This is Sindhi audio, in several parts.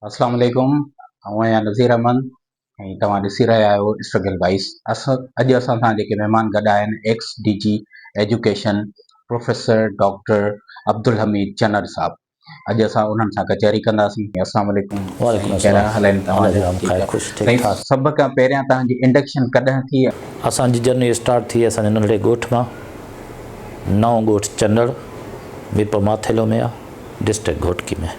اسلام عليڪم آئون آهيان نظير احمد ۽ توهان ڏسي رهيا آهيو اسٽرگل وائس اسان اڄ اسان سان جيڪي مهمان گڏ آهن ex D G education professor doctor Abdulhamid Channar صاحب اڄ اسان انهن سان ڪچهري ڪنداسين اسلام عليڪم وعليڪم السلام حال آهن توهان جا خير خوش ٺيڪ ٺاڪ سڀ کان پهريان توهان جي انڊڪشن ڪڏهن ٿي اسان جي جرني اسٽارٽ ٿي اسان جي ننڍڙي ڳوٺ مان نئون ڳوٺ چنڙ م پ ماٿيلو ۾ آ ڊسٽرڪٽ گهوٽڪي ۾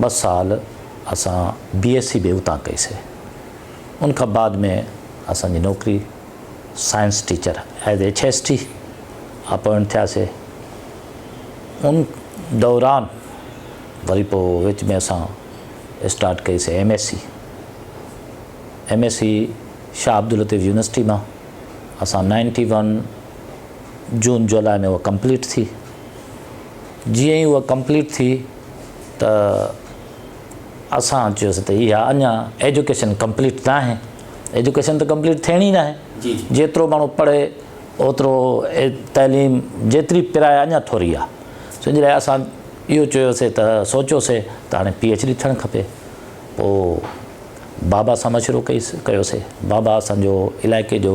ٻه سال اسان بي ايس سي به اتان ڪئي سي ان کان بعد ۾ اسان جي نوڪري science teacher as H S T appoint ٿيا سي ان دوران وري پو وچ ۾ اسان اسٽارٽ ڪئي C M S C M S C Shah Abdullatif university مان اسان نائنٽي ون جون جولاء ۾ اها ڪمپليٽ ٿي جيئن ئي اها ڪمپليٽ ٿي ته اسان چيوسي ته اها اڃا ايجوڪيشن ڪمپليٽ نه آهي ايجوڪيشن ته ڪمپليٽ ٿيڻي ئي نه آهي جي جي جيترو ماڻهو پڙهي اوترو تعليم جيتري پرايا اڃا ٿوري آ سن جي لاء اسان اهو چيوسي ته سوچيوسي ته هاڻي پي ايڇ ڊي ٿيڻ کپي پو بابا سان مشورو ڪئيس ڪيوسي بابا اسان جو علائقي جو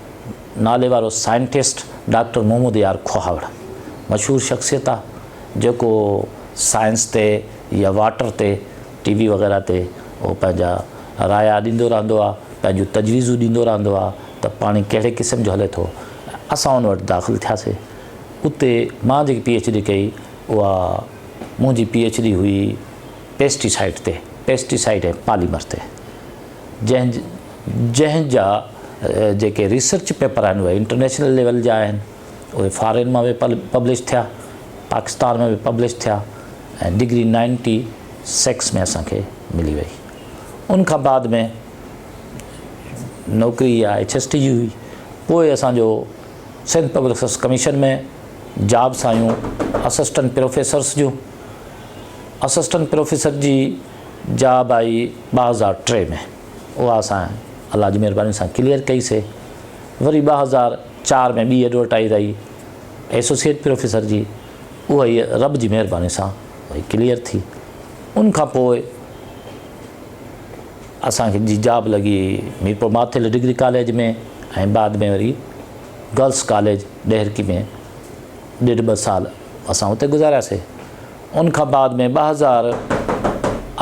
ناليوارو سائنٽسٽ ڊاڪٽر محمود يار کوهاوڙ مشهور شخصيت آ جيڪو سائنس تي يا واٽر تي ٽي وي وغيره تي هو پنهنجا رايا ڏيندو رهندو آ پنهنجون تجويزون ڏيندو رهندو آ ته پاڻي ڪهڙي قسم جو هلي ٿو اسان ان وٽ داخل ٿياسي اتي مان جيڪي پي ايڇ ڊي ڪئي اها منهنجي پي ايڇ ڊي هئي پيسٽي سائيڊ تي پيسٽي سائيڊ ۽ پاليمر تي جنهن جنهن جا جيڪي ريسرچ پيپر آهن اهي انٽرنيشنل ليول جا آهن اهي فارين مان به پبلش ٿيا پاڪستان ۾ به پبلش ٿيا ۽ ڊگري نائنٽي سڪس ۾ اسان کي ملي وئي ان کان بعد ۾ نوڪري يا ايچ ايس ٽي جي هئي پوء اسانجو Sindh public service commission ۾ jobs آيون اسسٽنٽ پروفيسرس جون اسسٽنٽ پروفيسر جي جاب آئي ٻه هزار ٽي ۾ اها اسان الله جي مهرباني سان ڪليئر ڪئي سي وري ٻه هزار چار ۾ ٻي ايڊورٽائز آئي ايسوسيئيٽ پروفيسر جي اها هي رب جي مهرباني سان وئي ڪليئر ٿي ان کان پوء اسان کي جي جاب لڳي ميرپور ماٿل ڊگري ڪاليج ۾ ۽ بعد ۾ وري گرلس ڪاليج ڏهرڪي ۾ ڏيڍ ٻه سال اسان اتي گذارياسي ان کان بعد ۾ ٻه هزار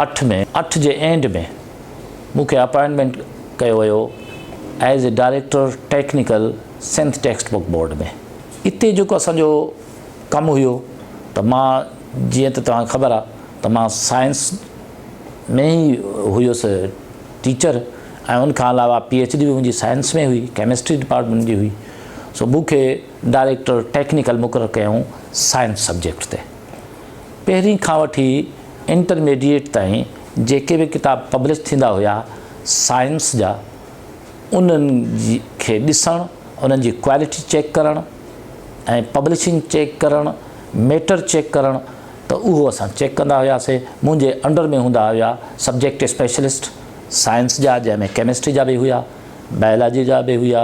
اٺ ۾ اٺ جي اينڊ ۾ مون کي اپائنٽمينٽ ڪيو ويو as a director technical Sindh text book board ۾ اتي جيڪو اسان جو ڪم هيو ته مان جيئن ته توهان کي خبر آ ته مان سائنس ۾ ئي هيس ٽيچر ۽ ان کان علاوه پي ايڇ ڊي به منهنجي سائنس ۾ هئي ڪيمسٽري ڊپارٽمينٽ جي هئي سو مون کي ڊائريڪٽر ٽيڪنيڪل مقرر ڪيائون سائنس سبجيڪٽ تي. پهرين کان وٺي انٽرميڊيئيٽ تائين جيڪي به ڪتاب پبلش ٿيندا هيا سائنس جا انهن کي ڏسڻ انهن جي ڪوالٽي چيڪ ڪرڻ ۽ پبلشنگ چيڪ ڪرڻ ميٽر چيڪ ڪرڻ ته اهو اسان چيڪ ڪندا هياسي منهنجي انڊر ۾ هوندا هيا سبجيڪٽ اسپيشلسٽ سائنس جا جنهن ۾ ڪيمسٽري جا به هيا بائلاجي جا به هيا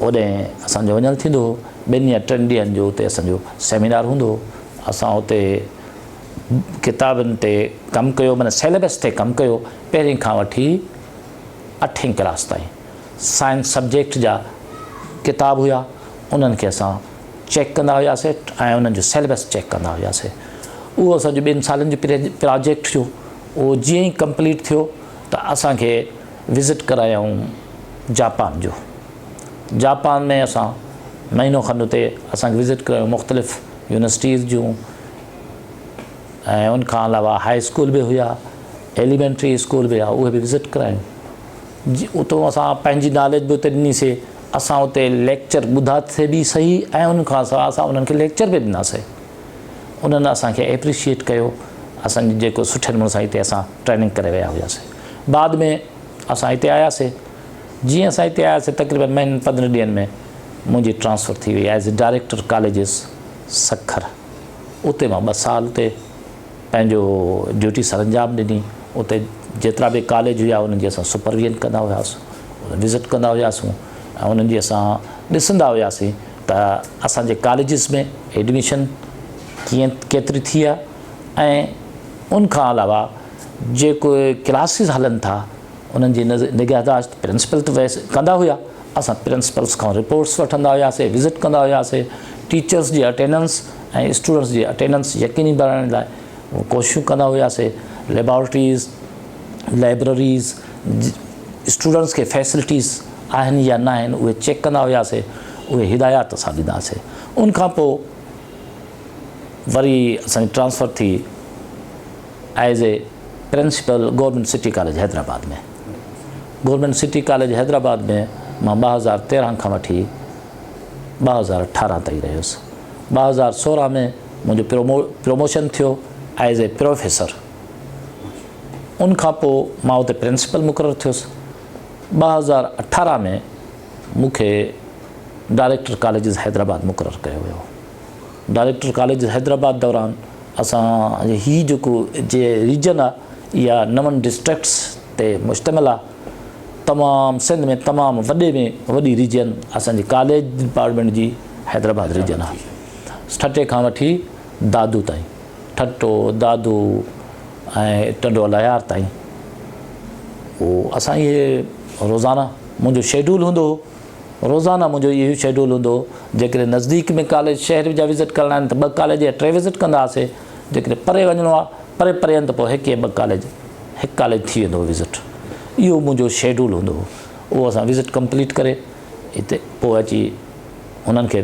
هوڏهن اسان جو وڃڻ ٿيندو هو. ٻن يا ٽن ڏينهن جو اتي اسان جو سيمينار هوندو هو. اسان اتي ڪتابن تي ڪم ڪيو معنيٰ سيليبس تي ڪم ڪيو. پهرين کان وٺي اٺين ڪلاس تائين سائنس سبجيڪٽ جا ڪتاب هيا. انهن کي اسان چيڪ ڪندا هياسي ۽ انهن جو سيليبس چيڪ ڪندا هياسي. اهو اسان جو ٻن سالن جو پراجيڪٽ هيو. اهو جيئن ئي ڪمپليٽ ٿيو ته اسان کي وزٽ ڪرايائون جاپان جو جاپان ۾ اسان مهينو کن اتي اسان کي وزٽ ڪرايائون مختلف يونيورسٽيز جون ۽ ان کان علاوه هاء اسڪول به هيا ايليمينٽري اسڪول به هيا اهي به وزٽ ڪرايون جي اتو اسان پنهنجي نالج به اتي ڏنيسي اسان اتي ليڪچر ٻڌا ٿي به صحيح ۽ ان کان سواء اسان انهن کي ليڪچر به ڏناسي انهن اسان کي ايپريشيئيٽ ڪيو اسان جي جيڪو سٺي نموني سان هتي اسان ٽريننگ ڪري ويا هياسين بعد ۾ اسان هتي آياسي جيئن اسان هتي آياسي تقريبن مهينن پندرهن ڏينهن ۾ منهنجي ٽرانسفر ٿي وئي as a director colleges Sukkur اتي مان ٻه سال اتي پنهنجو ڊيوٽي سر انجام ڏني اتي جيترا به ڪاليج هيا انهن جي اسان سپرويجن ڪندا هياسون وزٽ ڪندا هياسون ۽ انهن جي اسان ڏسندا هياسين ته اسان جي ڪاليجز ۾ ايڊميشن ڪيئن ڪيتري ٿي آهي ۽ ان کان علاوه جيڪو ڪلاسز هلن ٿا انهن جي نگهداشت پرنسپل ته ويسي ڪندا هيا اسان پرنسپلس کان رپورٽس وٺندا هياسي وزٽ ڪندا هياسي ٽيچرس جي اٽيننس ۽ اسٽوڊنٽس جي اٽيننس يقيني بڻائڻ لاء ڪوششون ڪندا هياسي ليبارٽريز لائبرريز اسٽوڊنٽس کي فيسلٽيز آهن يا ناهن اهي چيڪ ڪندا هياسي اهي هدايات اسان ڏيندا هياسي ان کان پوء وري اسان جي ٽرانسفر ٿي as a principal government city college Hyderabad ۾ government city college Hyderabad ۾ مان ٻه هزار تيرهن کان وٺي ٻه هزار اٺارهن تائين رهيس ٻه هزار سورهن ۾ منهنجو پروموشن ٿيو ايز اي پروفيسر ان کان پوء مان اتي پرنسپل مقرر ٿيس. ٻه هزار اٺارهن ۾ مون کي ڊائريڪٽر ڪاليجز حيدرآباد مقرر ڪيو ويو. ڊائريڪٽر ڪاليجز حيدرآباد دوران اسان هي جيڪو جي ريجن آ اها نون ڊسٽرڪٽس تي مشتمل آ. تمام سنڌ ۾ تمام وڏي ۾ وڏي ريجن اسان جي ڪاليج ڊپارٽمينٽ جي حيدرآباد ريجن آ. ٺٽي کان وٺي دادو تائين. ٺٽو، دادو ۽ ٽنڊو الهيار تائين. پوء اسان اهي روزانه منهنجو شيڊول هوندو هو، روزانه منهنجو اهو ئي شيڊول هوندو هو. جيڪڏهن نزديڪ ۾ ڪاليج، شهر جا وزٽ ڪرڻا آهن ته ٻه ڪاليج يا ٽي وزٽ ڪندا هئاسين. جيڪڏهن پري وڃڻو آهي، پري پري آهن ته پوء هڪ يا ٻه ڪاليج، هڪ ڪاليج ٿي ويندو هو وزٽ. اهو منهنجو شيڊول هوندو هو. اهو اسان وزٽ ڪمپليٽ ڪري. هتي پوء اچي انهن کي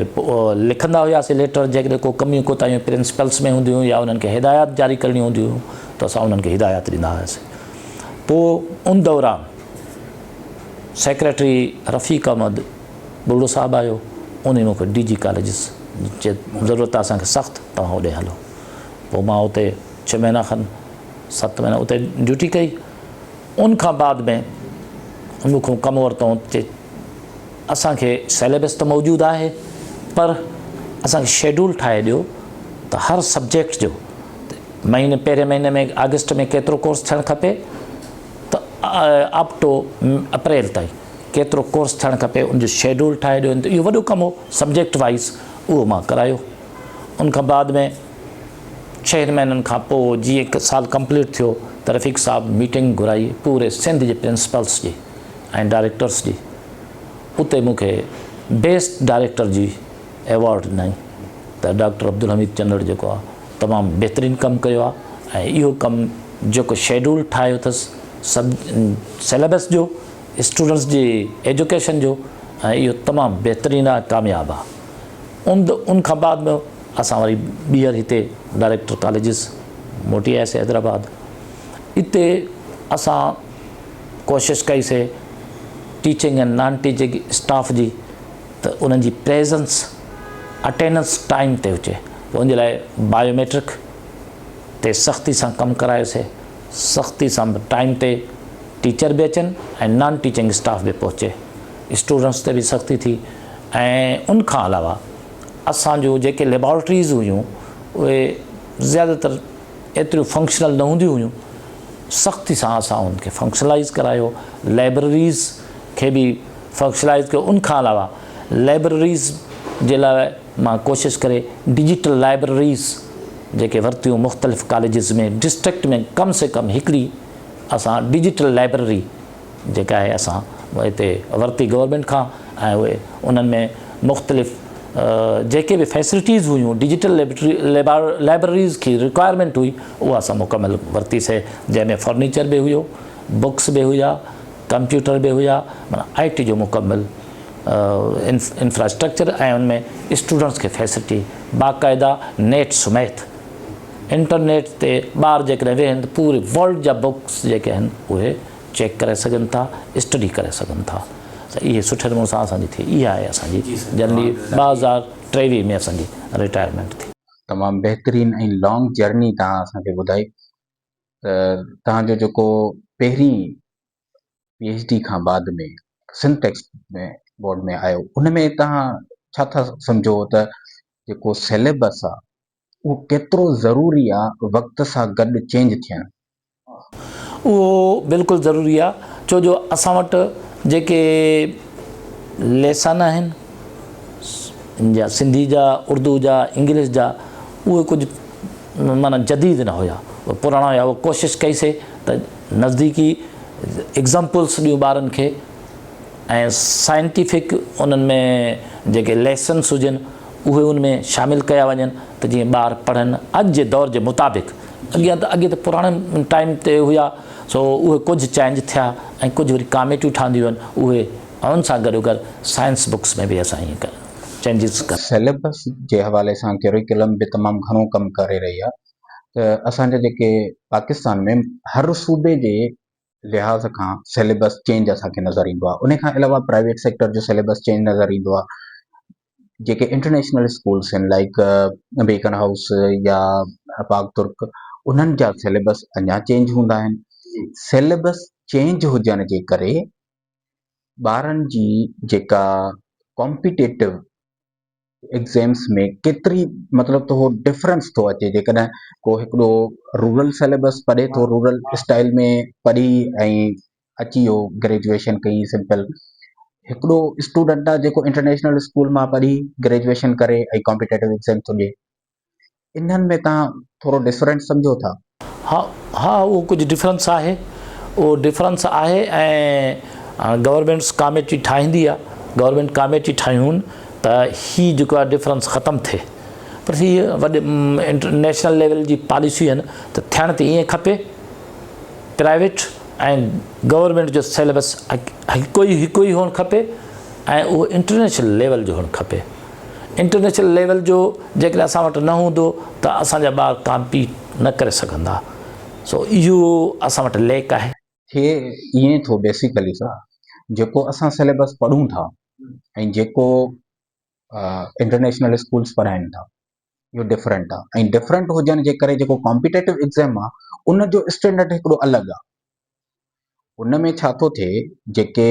لکندا هياسي ليٽر جيڪڏهن ڪو ڪميون ڪوتاهيون پرنسپلس ۾ هونديون يا انهن کي هدايات جاري ڪرڻيون هونديون هيون ته اسان انهن کي هدايات ڏيندا هياسي پوء ان دوران سيڪريٽري رفيق احمد ٻرڙو صاحب آيو انهي مون کي ڊي جي ڪاليجز جي ضرورت اسان کي سخت توهان اوڏي هلو پوء مان اتي ڇهه مهينا کن ست مهينا اتي ڊيوٽي ڪئي ان کان بعد ۾ مون کان ڪم ورتائون ته اسان کي سيليبس ته موجود آهي پر اسان کي شيڊول ٺاهي ڏيو ته هر سبجيڪٽ جو مهيني پهرين مهيني ۾ آگسٽ ۾ ڪيترو ڪورس ٿيڻ کپي ته اپ ٽو اپريل تائين ڪيترو ڪورس ٿيڻ کپي ان جو شيڊول ٺاهي ڏيو ته اهو وڏو ڪم هو سبجيڪٽ وائز اهو مان ڪرايو ان کان بعد ۾ ڇهن مهينن کان پوء جيئن هڪ سال ڪمپليٽ ٿيو ته رفيق صاحب ميٽنگ گهرائي پوري سنڌ جي پرنسپلس جي ۽ ڊائريڪٽرس جي اتي مون کي بيسٽ ڊائريڪٽر جي ايوارڊ ڏنائين ته ڊاڪٽر عبدالحميد چنڙ جيڪو آ تمام بهترين ڪم ڪيو آ ۽ اهو ڪم جيڪو شيڊول ٺاهيو اٿس سب سيليبس جو اسٽوڊنٽس جي ايجوڪيشن جو ۽ اهو تمام بهترين آ ڪامياب آ ان ان کان بعد اسان وري ٻيهر هتي ڊائريڪٽر ڪاليجز موٽي آياسي حيدرآباد. اتي اسان ڪوشش ڪئي سي ٽيچنگ ۽ نان ٽيچنگ اسٽاف جي ته انهن جي پريزنس اٽيننس ٽائيم تي هجي ته ان جي لاء بايو ميٽرڪ تي سختي سان ڪم ڪرايو سي سختي سان به ٽائيم تي ٽيچر به اچن ۽ نان ٽيچنگ اسٽاف به پهچي اسٽوڊنٽس تي به سختي ٿي ۽ ان کان علاوه اسان جون جيڪي ليبارٽريز هيون اهي زياده تر ايتريون فنڪشنل نه هونديون هيون سختي سان اسان ان کي فنڪشنلائز ڪرايو لائبرريز کي به فنڪشنلائز ڪيو ان کان علاوه لائبرريز جي لاء مان ڪوشش ڪري ڊجيٽل لائبرريز جيڪي ورتيون مختلف ڪاليجز ۾ ڊسٽرڪٽ ۾ ڪم سي ڪم هڪڙي اسان ڊجيٽل لائبرري جيڪي آهي اسان هتي ورتي گورنمينٽ کان ۽ اهي انهن ۾ مختلف جيڪي به فيسلٽيز هيون ڊجيٽل لائبرريز کي رڪوائرمينٽ هئي اها اسان مڪمل ورتي سي جنهن ۾ فرنيچر به هيو بڪس به هيا ڪمپيوٽر به هيا مانا آئي ٽي جو مڪمل انفراسٽرڪچر ۽ ان ۾ اسٽوڊنٽس کي فيسلٽي باقاعده نيٽ سميت انٽرنيٽ تي ٻار جيڪڏهن ويهن پوري ورلڊ جا بڪس جيڪي آهن اهي چيڪ ڪرائي سگهن ٿا اسٽڊي ڪري سگهن ٿا ته اهي سٺي نموني سان اسان جي ٿئي اها آهي اسان جي جنرلي ٻه هزار ٽيويهه ۾ اسان جي رٽائرمينٽ ٿي تمام بهترين ۽ لانگ جرني تهان اسان کي ٻڌائي ته تهان جو جيڪو پهرين پي ايچ ڊي کان بعد ۾ سنٽيڪس ۾ بورڊ ۾ آيو ان ۾ تهان ڇا ٿا سمجهو ته جيڪو سيليبس آ اهو ڪيترو ضروري آ وقت سان گڏ چينج ٿيڻ. اهو بلڪل ضروري آ ڇو جو اسان وٽ جيڪي ليسن آهن جا سنڌي جا اردو جا انگلش جا اهي ڪجهه معنيٰ جديد نه هيا اهي پراڻا هيا اهي ڪوشش ڪئي سي ته نزديڪي ايگزامپلس ڏيون ٻارن کي ۽ سائنٽيفڪ انهن ۾ جيڪي ليسنس هجن اهي ان ۾ شامل ڪيا وڃن ته جيئن ٻار پڙهن اڄ جي دور جي مطابق اڳيان ته اڳي ته پراڻن ٽائيم تي هيا سو اهي ڪجهه چينج ٿيا ۽ ڪجهه وري ڪاميٽيون ٺهنديون آهن اهي ان سان گڏو گڏ سائنس بڪس ۾ به اسان ائين ڪيا چينجز ڪن. سيليبس جي حوالي سان ڪيريڪولم به تمام گهڻو ڪم ڪري رهي آهي ته اسان جا جيڪي پاڪستان ۾ هر صوبي جي لحاظ کان سيليبس چينج اسان کي نظر ايندو آهي ان کان علاوه پرائيويٽ سيڪٽر جو سيليبس چينج نظر ايندو آهي جيڪي انٽرنيشنل اسڪولس آهن لائڪ بيڪن هائوس يا پاڪ ترڪ انهن جا سيليبس اڃا چينج هوندا آهن سيليبس چينج هجڻ جي ڪري ٻارن جي جيڪا ڪامپيٽيٽو ايگزيمس ۾ ڪيتري مطلب ته هو ڊفرنس ٿو اچي جيڪڏهن ڪو هڪڙو رورل سيليبس پڙهي ٿو رورل اسٽائل ۾ پڙهي ۽ اچي ويو گريجويشن ڪئي سمپل هڪڙو اسٽوڊنٽ آ جيڪو انٽرنيشنل اسڪول مان پڙهي گريجويشن ڪري ۽ ڪامپيٽيٽو ايگزيم ٿو ڏي انهن ۾ توهان ٿورو ڊفرنٽ سمجهو ٿا؟ ها ها اهو ڪجهه ڊفرنس آهي اهو ڊفرنس آهي ۽ گورمينٽس ڪاميٽي ٺاهيندي آهي گورمينٽ ڪاميٽي ٺاهيون ته هي جيڪو آهي ڊفرنس ختم ٿئي پر هي وڏي انٽرنيشنل ليول جي پاليسيون آهن ته ٿيڻ ته ائين کپي پرائيويٽ ۽ گورمينٽ جو سيلبس هڪ ئي هڪ ئي هئڻ کپي ۽ اهو انٽرنيشنل ليول جو هئڻ کپي انٽرنيشنل ليول جو جيڪڏهن اسان وٽ نه هوندو ته اسان جا ٻار ڪامپيٽ نه ڪري سگهندا سو اهو اسان وٽ ليڪ آهي. ٿئي ائين ٿو بيسيڪلي سر جيڪو اسان سليبس پڙهون ٿا ۽ جيڪو انٽرنيشنل اسڪولس پڙهائين ٿا اهو ڊفرنٽ آهي ۽ ڊفرنٽ هجڻ جي ڪري جيڪو ڪامپيٽيٽو ايگزام آهي ان جو اسٽينڊرڊ هڪڙو الڳ آهي ان ۾ ڇا ٿو ٿئي جيڪي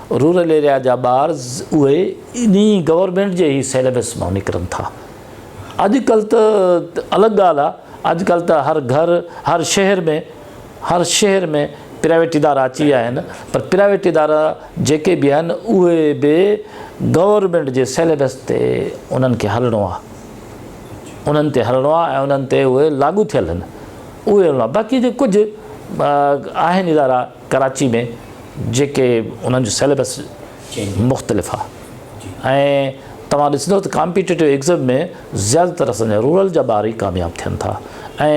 رورل ايريا جا ٻار اهي انهي گورنمينٽ جي ئي سيليبس مان نڪرن ٿا اڄڪلهه ته الڳ ڳالهه آهي اڄڪلهه ته هر گهر هر شهر ۾ هر شهر ۾ پرائيويٽ ادارا اچي ويا آهن پر پرائيويٽ ادارا جيڪي به آهن اهي به گورنمينٽ جي سيليبس تي انهن کي هلڻو آهي انهن تي هلڻو آهي ۽ انهن تي اهي لاڳو ٿيل آهن اهي هلڻو آهي باقي جي ڪجهه آهن ادارا ڪراچي ۾ جيڪي انهن جو سيليبس مختلف آهي ۽ توهان ڏسندو ته ڪامپيٽيٽو ايگزم ۾ زياده تر اسان جا رورل جا ٻار ئي ڪامياب ٿين ٿا ۽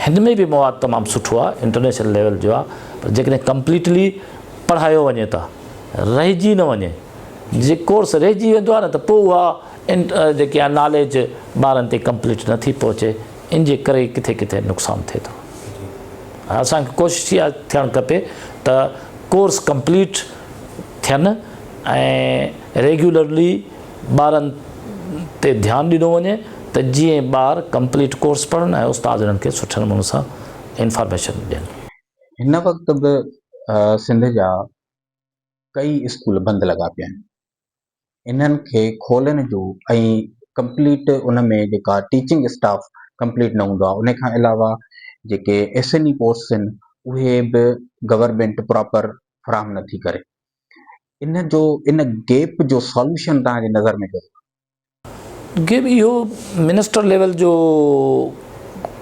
هن ۾ به مواد تمام سٺو آهي انٽرنيشنل ليول جو آهي پر جيڪڏهن ڪمپليٽلي پڙهايو وڃي ته رهجي نه وڃي جي ڪورس رهجي ويندو آهي نه ته پوء اها جيڪي آهي ناليج ٻارن تي ڪمپليٽ نٿي پهچي ان جي ڪري ڪٿي ڪٿي نقصان ٿئي ٿو اسان کي ڪوشش اها ٿيڻ کپي ته ڪورس ڪمپليٽ ٿين ۽ ريگيولرلي ٻارن تي ڌيان ڏنو وڃي ته جيئن ٻار ڪمپليٽ ڪورس پڙهن ۽ استاد انهن کي سٺي نموني سان انفارميشن ڏين هن وقت به سنڌ جا ڪئي اسڪول بند لڳا پيا آهن انهن کي کولڻ جو ۽ ڪمپليٽ ان ۾ جيڪا ٽيچنگ اسٽاف ڪمپليٽ نه هوندو آهي ان کان علاوه جيڪي ايس اين اي پوسٽس آهن اهي به گورنمينٽ پراپر فراهم نه ٿي ڪري ان جو ان گيپ جو سولوشن تان جي نظر ۾ ڪيو ويو. گيپ اهو منسٽر ليول جو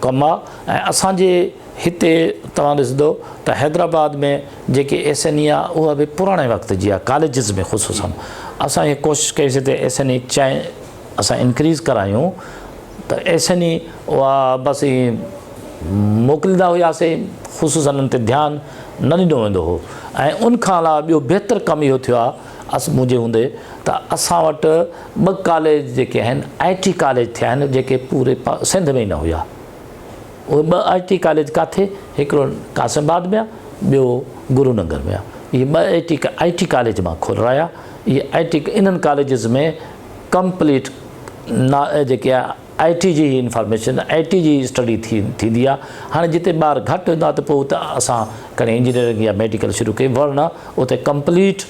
ڪم آ ۽ اسان جي هتي توهان ڏسندو ته حيدرآباد ۾ جيڪي ايس اين اي آ اها به پراڻي وقت جي آ ڪاليجز ۾ خصوصا اسان اها ڪوشش ڪئي سي ته ايس اين اي چائي اسان انڪريز ڪرايون ته ايس اين اي اها بس ايئن موڪليندا هيا سي خصوصا ان تي ڌيان نه ڏنو ويندو هو ۽ ان کان علاوه ٻيو بهتر ڪم اهو ٿيو آ اس منهنجي هوندي ته اسان وٽ ٻه ڪاليج جيڪي آهن آء ٽي ڪاليج ٿيا آهن جيڪي پوري سنڌ ۾ ئي نه هيا اهي ٻه آء ٽي ڪاليج ڪاٿي هڪڙو قاسم آباد ۾ آهي ٻيو گرو ننگر ۾ آهي اهي ٻه آء ٽي آء ٽي ڪاليج مان کولرايا اهي آء ٽي انهن ڪاليجز ۾ ڪمپليٽ نا جيڪي آئي ٽي جي انفارميشن آئي ٽي جي اسٽڊي ٿيندي آ هاڻي جتي ٻار گهٽ هوندا ته پوء اتي اسان ڪنهن انجنيئرنگ يا ميڊيڪل شروع ڪئي ورنه اتي ڪمپليٽ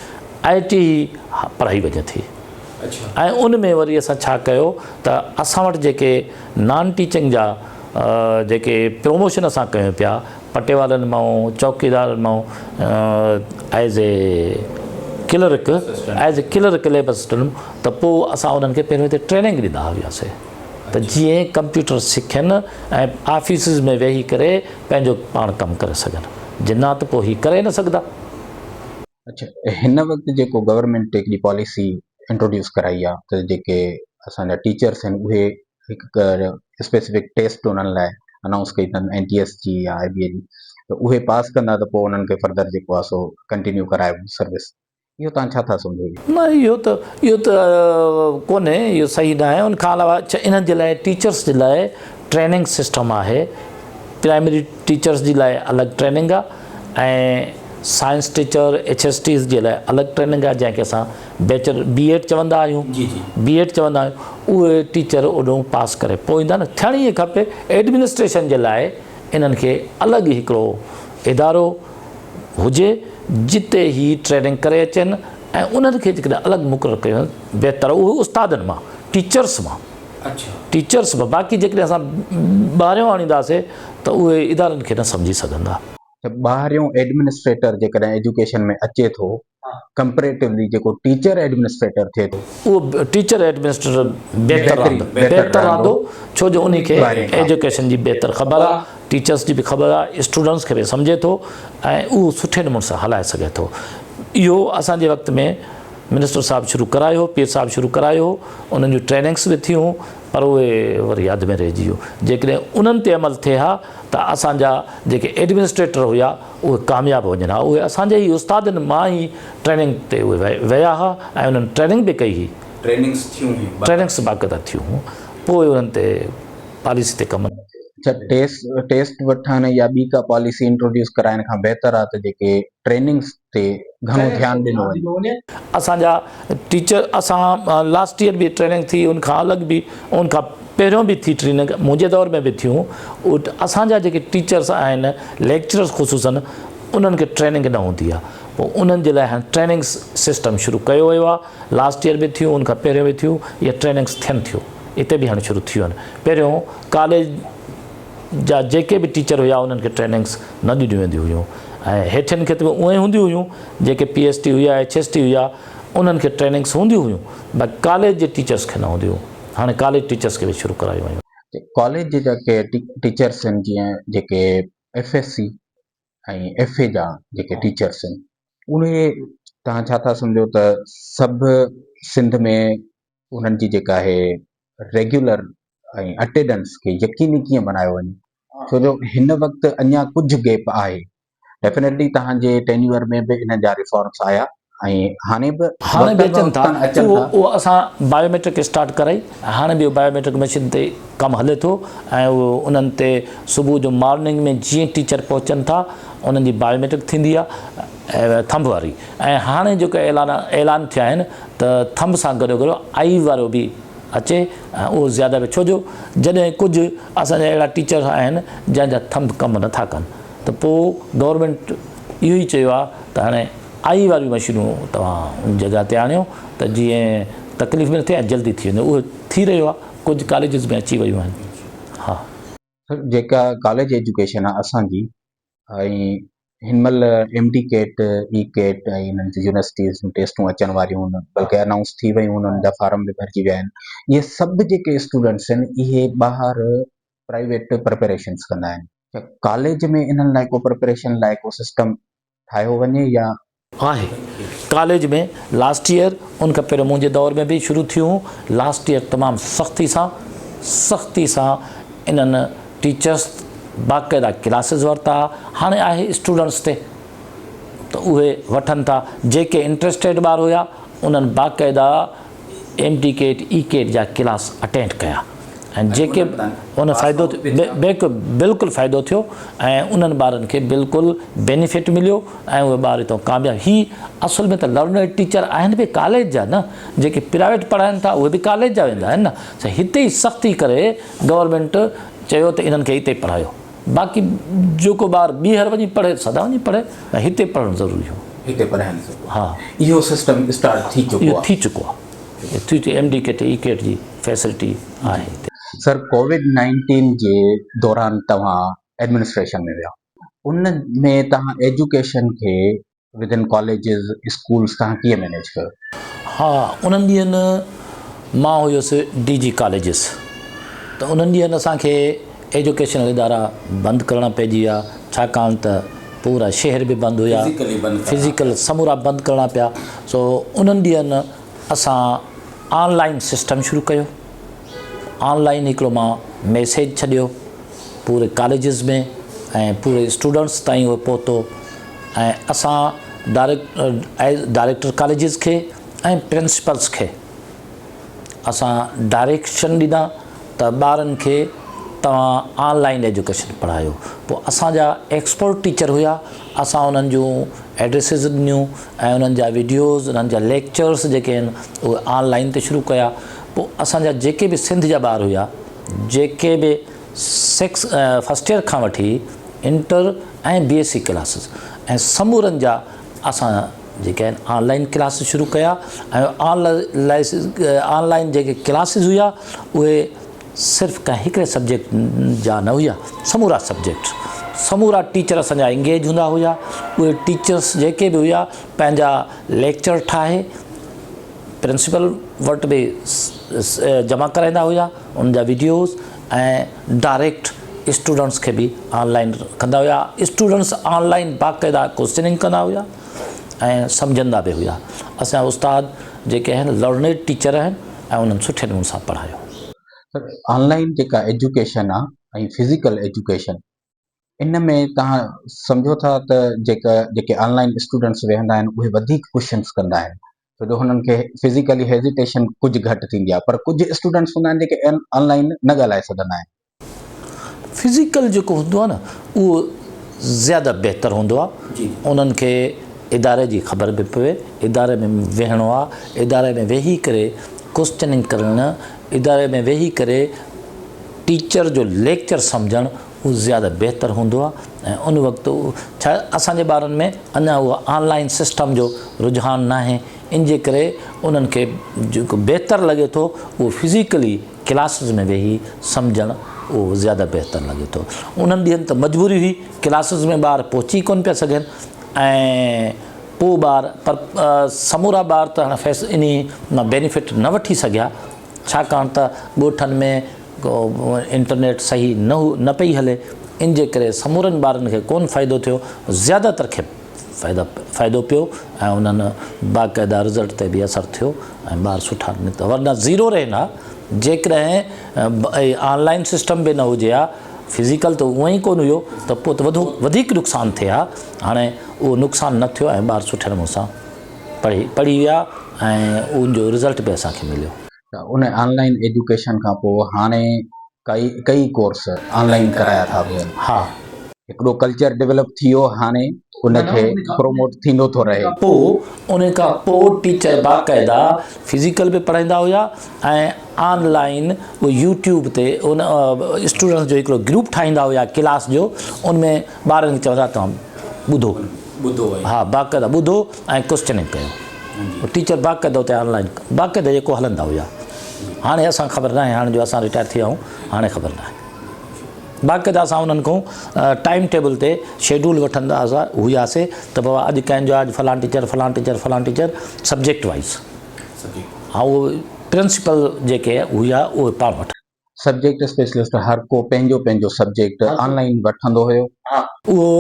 آئي ٽي ئي پڙهائي وڃي ٿي ۽ ان ۾ وري اسان ڇا ڪيو ته اسان وٽ جيڪي نان ٽيچنگ جا جيڪي پروموشن اسان ڪيون پيا پٽيوالن مان، چوڪيدارن مان as a clerk as a clerk labour system ته پوء اسان انهن کي پهريون هتي ٽريننگ ڏيندا هياسين ته جيئن ڪمپيوٽر سکين ۽ آفيسز ۾ ويهي ڪري پنهنجو پاڻ ڪم ڪري سگهن جنات پوء هي ڪري نه سگهندا. اڇا هن وقت جيڪو گورنمينٽ هڪڙي پاليسي انٽروڊيوس ڪرائي آهي ته جيڪي اسان جا ٽيچرس آهن اهي هڪ اسپيسفڪ ٽيسٽ انهن لاء انائونس ڪئي اٿن اين ٽي ايس جي يا آء بي اي جي ته اهي پاس ڪندا ته پوء انهن کي فردر جيڪو آهي سو ڪنٽينيو ڪرائبو سروس اهو توهان ڇا ٿا سمجهو اهي؟ نه اهو ته اهو ته ڪونهي اهو صحيح ناهي ان کان علاوه اڇا انهن جي لاء ٽيچرس جي لاء ٽريننگ سسٽم آهي پرائمري ٽيچرس جي لاء الڳ ٽريننگ آهي ۽ science teacher H S Ts جي لاء الڳ ٽريننگ آهي جنهن کي اسان بيچلر بي ايڊ چوندا آهيون بي ايڊ چوندا آهيون اهي ٽيچر اوڏهون پاس ڪري پوء ايندا نه ٿيڻ ئي کپي ايڊمنسٽريشن جي لاء انهن کي الڳ ئي هڪڙو ادارو هجي جتي هي ٽريننگ ڪري اچن ۽ انهن کي جيڪڏهن الڳ مقرر ڪيو وڃي بهتر اهو استادن مان ٽيچرس مان ٽيچرس به باقي جيڪڏهن اسان ٻاهريون آڻينداسي ته اهي ادارن کي نه سمجهي سگهندا. ته ٻاهريون ايڊمنسٽريٽر جيڪڏهن ايجوڪيشن ۾ اچي ٿو ڪمپريٽولي جيڪو ٽيچر ايڊمنسٽريٽر ٿئي ٿو. اهو ٽيچر ايڊمنسٽريٽر بهتر رهندو بهتر رهندو ڇو جو انهي کي ايجوڪيشن جي بهتر خبر آ ٽيچرس جي به خبر آ اسٽوڊنس کي به سمجهي ٿو ۽ اهو سٺي نموني سان هلائي سگهي ٿو اهو اسان جي وقت ۾ منسٽر صاحب شروع ڪرايو هو پير صاحب شروع ڪرايو هو انهن جون ٽريننگس به ٿيون پر اهي وري ياد ۾ رهجي ويو جيڪڏهن انهن تي عمل ٿئي ها ته اسان جا جيڪي ايڊمنسٽريٽر هيا اهي ڪامياب وڃن ها اهي اسان جي ئي استادن مان ئي ٽريننگ تي اهي ويا ها ۽ انهن ٽريننگ به ڪئي هئي ٽريننگس ٿيون هيون باقاعده ٽريننگس باقاعده ٿيون هيون پوء انهن تي پاليسي تي ڪم نه ٿيو. اڇا ٽيسٽ ٽيسٽ وٺڻ يا ٻي ڪا پاليسي انٽروڊيوس ڪرائڻ کان بهتر آهي ته جيڪي ٽريننگس تي گهڻو ڌيان ڏنو وڃي. اسان جا ٽيچر اسان لاسٽ ايئر به ٽريننگ ٿي ان کان الڳ به ان کان پهريون به ٿي ٽريننگ منهنجي دور ۾ به ٿيون اسان جا جيڪي ٽيچرس آهن ليڪچررس خصوصن انهن کي ٽريننگ نه هوندي آهي پوء انهن جي لاء هاڻي ٽريننگ سسٽم شروع ڪيو ويو آهي لاسٽ ايئر به ٿيون ان کان پهريون به ٿيون اهي ٽريننگس ٿين ٿيون اتي به هاڻي شروع ٿيون آهن پهريون ڪاليج جا جيڪي به ٽيچر هيا انهن کي ٽريننگس نه ڏنيون وينديون هيون ۽ هيٺين کي ته اهون ئي هونديون هيون جيڪي پي ايس ٽي هيا ايڇ ايس ٽي هيا انهن کي ٽريننگس هونديون هيون باقي ڪاليج جي ٽيچرس کي نه هونديون هيون هاڻي ڪاليج ٽيچرس کي به شروع ڪرايون ويون. ڪاليج جي جيڪي ٽيچرس آهن جيئن جيڪي F S C ۽ F A جا جيڪي ٽيچرس آهن اهي تهان ڇا ٿا سمجهو ته سڀ سنڌ ۾ انهن جي جيڪا آهي ريگيولر ۽ اٽيڊنس کي يقيني ڪيئن بنايو وڃي ڇو جو هن وقت اڃا ڪجهه گيپ آهي ڊيفنيٽلي توهان جي ٽينيور ۾ به انهن جا ريفارمس آيا هاڻي به هاڻي به اچن ٿا اهو اسان بايوميٽرڪ اسٽارٽ ڪرائي هاڻي به بايوميٽرڪ مشين تي ڪم هلي ٿو ۽ اهو انهن تي صبح جو مارننگ ۾ جيئن ٽيچر پهچن ٿا انهن جي بايوميٽرڪ ٿيندي آهي ٿنڀ واري ۽ هاڻي جيڪي اعلان اعلان ٿيا آهن ته ٿنڀ سان گڏو گڏ آئي وارو به اچي ۽ اهو زياده به ڇو جو جڏهن ڪجهه اسان جا اهڙا ٽيچر آهن جنهن جا ٿنڀ ڪم نه ٿا ڪن ته پو گورمينٽ اهو ئي چيو آهي ته هاڻي آئي واريون مشينون توهان ان جڳهه تي آڻيو ته جيئن تڪليف به نه ٿئي ۽ جلدي ٿي وڃي اهو ٿي رهيو آهي ڪجهه ڪاليجز ۾ اچي ويون آهن ها سر جيڪا ڪاليج ايجوڪيشن آهي اسان جي ۽ هن مهل M D CAT, E CAT ۽ انهن جون يونيورسٽيز جون ٽيسٽون اچڻ واريون هن بلڪه انائونس ٿي ويون هن انهن جا فارم به ڀرجي ويا آهن اهي سڀ جيڪي اسٽوڊنٽس آهن اهي ٻاهر پرائيويٽ پريپريشنس ڪندا آهن ڇا ڪاليج ۾ انهن لاء ڪو پريپريشن لاء ڪو سسٽم ٺاهيو وڃي يا آهي ڪاليج ۾ لاسٽ يئر ان کان پهريون منهنجي دور ۾ به شروع ٿيون هون لاسٽ يئر تمام سختي سان سختي سان انهن ٽيچرس باقاعده ڪلاسز ورتا هاڻي آهي اسٽوڊنٽس تي ته اهي وٺن ٿا جيڪي انٽرسٽيڊ ٻار هيا انهن باقاعده ايم ٽي ڪيٽ، اي ڪيٽ جا ڪلاس اٽينڊ ڪيا ۽ جيڪي ان فائدو بلڪل فائدو ٿيو ۽ انهن ٻارن کي بلڪل بينيفٽ مليو ۽ اهي ٻار هتان ڪامياب هي اصل ۾ ته لرنر ٽيچر آهن به ڪاليج جا نه جيڪي پرائيويٽ پڙهائن ٿا اهي به ڪاليج جا ويندا آهن نه هتي سختي ڪري گورنمينٽ چيو ته انهن کي هتي پڙهايو باقي جيڪو ٻار ٻيهر وڃي پڙهي سدا وڃي پڙهي ۽ هتي پڙهڻ ضروري هو هتي پڙهائڻ ضروري ها اهو سسٽم اسٽارٽ ٿي چڪو اهو ٿي چڪو آهي ٿي چڪو M D CAT E CAT جي فيسلٽي آهي هتي سر ڪووڊ نائنٽين جي دوران توهان ايڊمنسٽريشن ۾ ويا ان ۾ توهان ايجوڪيشن کي within colleges schools توهان ڪيئن مينيج ڪيو؟ ها انهن ڏينهن مان هيس ڊي جي ڪاليجز ته انهن ڏينهن اسان کي ايجوڪيشنل ادارا بند ڪرڻا پئجي ويا ڇاڪاڻ ته پورا شهر به بند هيا فزيڪل سمورا بند ڪرڻا پيا سو انهن ڏينهن اسان آن لائن سسٽم شروع ڪيو آن لائن هڪڙو مان ميسيج ڇڏيو پوري ڪاليجز ۾ ۽ پوري اسٽوڊنٽس تائين اهو پهتو ۽ اسان ڊائريڪٽر ڪاليجز کي ۽ پرنسپلز کي اسان ڊائريڪشن ڏنا ته ٻارن کي توهان آن لائن ايجوڪيشن پڙهايو پوء اسان جا ايڪسپرٽ ٽيچر هيا اسان انهن جون ايڊريسز ڏنيون ۽ انهن جا ويڊيوز انهن جا ليڪچرز جيڪي آهن اهي آن لائن تي شروع ڪيا پوء اسان جا جيڪي به سنڌ جا ٻار هيا جيڪي به سيڪس فرسٽ ايئر کان وٺي inter ۽ B S C classes ۽ سمورن جا اسان جيڪي آهن آن لائن ڪلاسز شروع ڪيا ۽ آن لائسز آن لائن جيڪي ڪلاسز هيا اهي صرف ڪنهن هڪڙي سبجيڪٽ جا نه هيا سمورا سبجيڪٽ سمورا ٽيچر اسان جا انگيج هوندا هيا اهي ٽيچرس جيڪي به هيا پنهنجا ليڪچر ٺاهي پرنسپل وٽ به جمع ڪرائيندا هيا ان جا ويڊيوز ۽ ڊائريڪٽ اسٽوڊنٽس کي به آن لائين ڪندا هيا اسٽوڊنٽس آن لائين باقاعده ڪوسچننگ ڪندا هيا ۽ سمجهندا به هيا اسان استاد جيڪي آهن لرنيڊ ٽيچر آهن ۽ انهن سٺي نموني سان پڙهايو. سر آن لائين جيڪا ايجوڪيشن آهي ۽ فزيڪل ايجوڪيشن ان ۾ توهان سمجهو ٿا ته جيڪا جيڪي آن لائن اسٽوڊنٽس ويهندا آهن اهي وڌيڪ ڪوشچنس ڪندا آهن ڇو جو هنن کي فزيڪلي هيزيٽيشن ڪجهه گهٽ ٿيندي آهي پر ڪجهه اسٽوڊنٽس هوندا آهن جيڪي آن لائن نه ڳالهائي سگهندا آهن فزيڪل جيڪو هوندو آهي نه اهو زياده بهتر هوندو آهي انهن کي اداري جي خبر به پوي اداري ۾ ويهڻو آهي اداري ۾ ويهي ڪري ڪوشچننگ ڪرڻ اداري ۾ ويهي ڪري ٽيچر جو ليڪچر سمجهڻ اهو زياده بهتر هوندو آهي ۽ ان وقت ڇا اسان جي ٻارن ۾ اڃا اهو آن لائين سسٽم جو رجحان ناهي ان جي ڪري انهن کي جيڪو بهتر لڳي ٿو اهو فزيڪلي ڪلاسز ۾ ويهي سمجهڻ اهو زياده بهتر لڳي ٿو انهن ڏينهن ته مجبوري هئي ڪلاسز ۾ ٻار پهچي ڪونه پيا سگهن ۽ پوء ٻار پر سمورا ٻار ته هاڻ فيس انهي مان بينيفٽ نه وٺي سگهيا ڇاڪاڻ ته ڳوٺن ۾ انٽرنيٽ صحيح نه نه پئي هلي ان جي ڪري سمورن ٻارن کي ڪون فائدو ٿيو زياده تر کي فائدا فائدو پيو ۽ انهن باقاعده رزلٽ تي به اثر ٿيو ۽ ٻار سٺا نڪتا ورنه زيرو رهن ها جيڪڏهن آن لائن سسٽم به نه هجي ها فزيڪل ته اونئي ڪون هيو ته پوء ته وڌو وڌيڪ نقصان ٿئي ها هاڻي اهو نقصان نه ٿيو ۽ ٻار سٺي نموني سان پڙهي پڙهي ويا ۽ ان جو رزلٽ به اسان کي مليو. ته ان آن لائين ايجوڪيشن کان پوء هاڻي ڪئي ڪئي ڪورس آن لائين ڪرايا ٿا وڃن. ها. هڪڙو ڪلچر ڊيولپ ٿي ويو هاڻي ان کي پروموٽ ٿيندو ٿو رهي. پوء ان کان پوء ٽيچر باقاعده فزيڪل به پڙهائيندا هيا ۽ آن لائين به يوٽيوب تي ان اسٽوڊنٽس جو هڪڙو گروپ ٺاهيندا هيا ڪلاس جو ان ۾ ٻارن کي چوندا توهان ٻڌو. ٻڌو ۽. ها باقاعده ٻڌو ۽ ڪوسچننگ ڪيو جي. ٽيچر باقاعده اتي آن لائين باقاعده جيڪو هلندا هيا هاڻي اسان خبر ناهي هاڻي جو اسان رٽائر ٿي ويا آهيون هاڻي خبر ناهي باقاعده اسان انهن کان ٽائيم ٽيبل تي شيڊول وٺندا هياسي ته بابا اڄ ڪنهن جو اڄ فلان ٽيچر فلان ٽيچر فلان ٽيچر سبجيڪٽ وائيز ها اهو پرنسپل جيڪي هيا اهي پاڻ وٺندا. سبجيڪٽ اسپيشلسٽ هر ڪو پنهنجو پنهنجو سبجيڪٽ آن لائين وٺندو هيو. اهو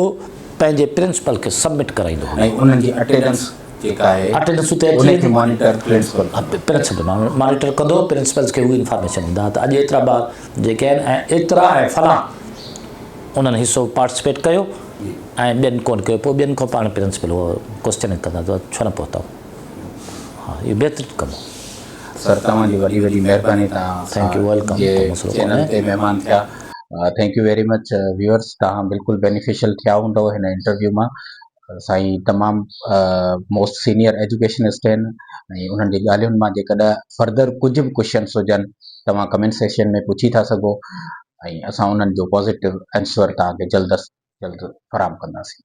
پنهنجي پرنسپل کي سبمٽ ڪرائيندو هيو. ۽ انهن جي اٽينڊنس جيڪا آهي اٽينڊنس اتي اچي ويندي. ان کي مانيٽر پرنسپل ڪندو. پرنسپل مانيٽر ڪندو. پرنسپلز کي هو انفارميشن ڏيندا ته اڄ ايترا ٻار جيڪي آهن ۽ ايترا ۽ فلان انهن حصو پارٽيسپيٽ ڪيو ۽ ٻين ڪونه ڪيو. پوء ٻين کان پاڻ پرنسپل هو ڪوسچننگ ڪندا ته ڇو نه پهتؤ. ها اهو بهترين ڪم هو. سر توهان جي وڏي وڏي مهرباني توهان جي چينل تي مهمان ٿيا thank you very much viewers توهان بلڪل بينيفيشل ٿيا هوندو هن انٽرويو مان سائين تمام موسٽ سينيئر ايجوڪيشنسٽ آهن ۽ انهن جي ڳالهين مان جيڪڏهن فردر ڪجهه به ڪوشچنس هجن توهان ڪمينٽ سيشن ۾ پڇي ٿا سگهو ۽ اسان انهن جو پازيٽو آنسر توهان کي جلد از جلد فراهم ڪنداسين